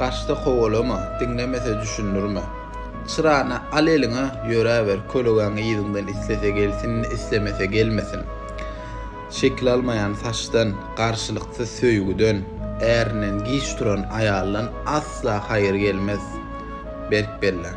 Gaçsa kowalama, diňlemese düşündirme. Çyrany al eliňe, ýöräber, kölegäňi yzyňdan islese gelsin, islemese gelmesin. Şekil almaýan saçdan, garşylyksyz söýgüden, ärinden giç duran aýaldan asla haýyr gelmez. Berk bellen.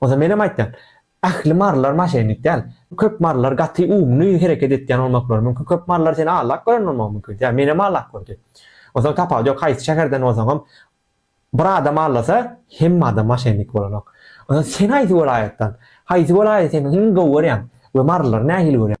Onsoň menem aýtýan, ähli marylar maşennik däl. Köp marylar gaty umly hereket etýän bolmaklary mümkin. Köp marylar seni allak gören bolmagy mümkin. Ýa menem allak gördi. Onsoň tapawudy ýok, haýsy şäherden bolsaňam bir adam allasa, hemme adam maşennik bolanok. Onsoň sen haýsy welaýatdan? Haýsy welaýaty sen iň gowy görýäň we marylary nähili görýäň?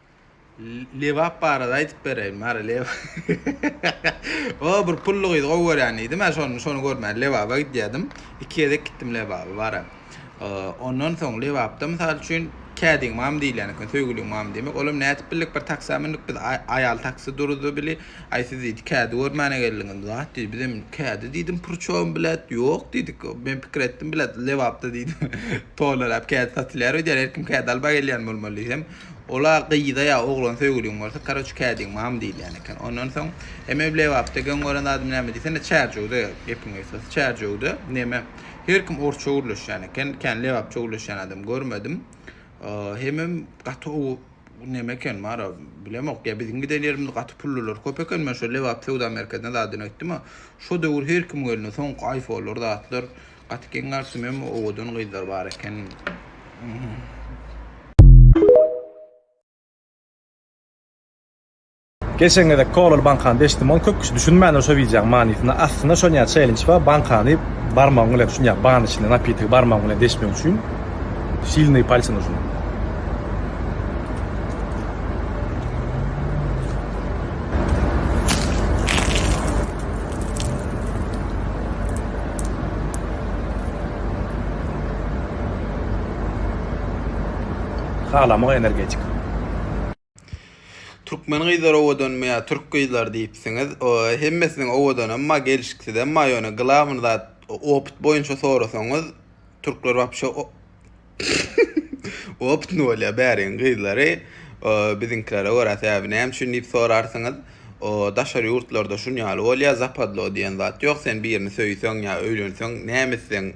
Lebap barada aýdyp bereýin Mary leba O bir pully gyzy gowy görýän diýdi men şony şony görmän lebaba gidýädim iki gezek gitdim lebaba bara ondan soň lebapda mysal üçin kädiň mam diýilýän eken söýgüliň mam diýmek olam nädip bildik bir taksa mündik biz aýal taksi duruzdy bili aý siz diýdi kädi görmäne geldiňiz zat diýdi bizem kädi diýdim purçogym bilet ýok diýdik men pikir etdim bilet lebapda diýdim tolaräp kädi satylýar öýdýän her kim kädi alba gelýän bolmaly diýsem Ola gyza ýa oglana söýgüliň bolsa karoç kädiň mam diýilýän eken ondan soň eme lebapda geň gören zadym näme diýsene çärjewde gepiň gysgasy çärjewde neme her kim orsça gürleşýän eken kän lebapça gürleşýän adam görmedim hemem gaty ow neme eken mara bilemok ýa biziň giden ýerimiz gaty pullylar köp eken men şo lebap söwda merkezine zadyn aýtdym a şo döwür her kimiň elinde soňky aýfonlar zatlar Gaty geň galşym emma owadan gyzlar bar eken. Geçen gezek kolaly bankany deşdim ony köp kişi düşünmändir şo wideoň manysyna aslynda şon ýaly çeýlinç bar bankany barmagyň bilen şun ýaly banyň içinde napitigi barmagyň bilen deşmek üçin silnyý palçyň ucuna. Türkmen gyzlar owadanmy ýa türk gyzlary diýipsiňiz hemmesiniň owadan emma gelşiksiz emma ýöne glawny zat opyt boýunça sorasaňyz türkler wapşe Optny bolýa bäriň gyzlary. Biziňkilere görä sebäbi näme üçin diýip sorarsyňyz. Daşary ýurtlarda şunýaly bolýa zapadlo diýen zat ýok sen birini söýseň ýa öýlenseň näme etseň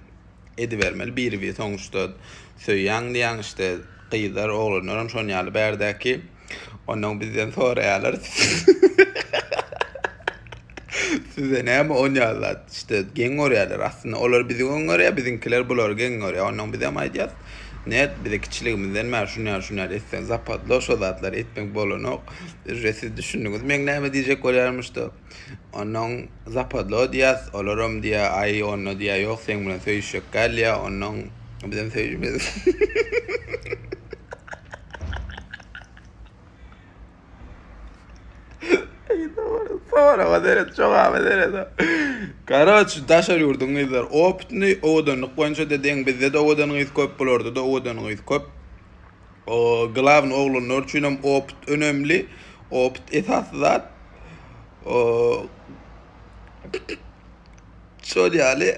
edibermeli biri bir soňuşda söýýäň diýýäň işte gyzlar oglanlaram şonýaly bärdäki. Onnoň bizden soraýarlar. Size näme on ýaly zat? İşte geň görýärler. Aslynda olar bizi geň görýär, biziňkiler bulary geň görýär. Onnoň biz hem aýdýas. Net bize kiçiligimizden bäri şuny ýaly, şuny ýaly etseň, zapadlo şo zatlary etmek bolanok. Uje siz düşündiňiz meň näme diýjek bolýarmyşdyk. Onnoň zapadlo diýýäs, olaram diýýä, aý, onno diýýä, ýok, seň bilen söýüşjek däl diýýä, onnoň bizem söýüşmez. Karoç, daşary ýurduň gyzlary opytnyý, owadanlyk boýunça-da deň, bizde-de owadan gyz köp, bularda-da owadan gyz köp. Glawny oglanlar üçin hem opyt önemli. Opyt esasy zat. Şol ýaly.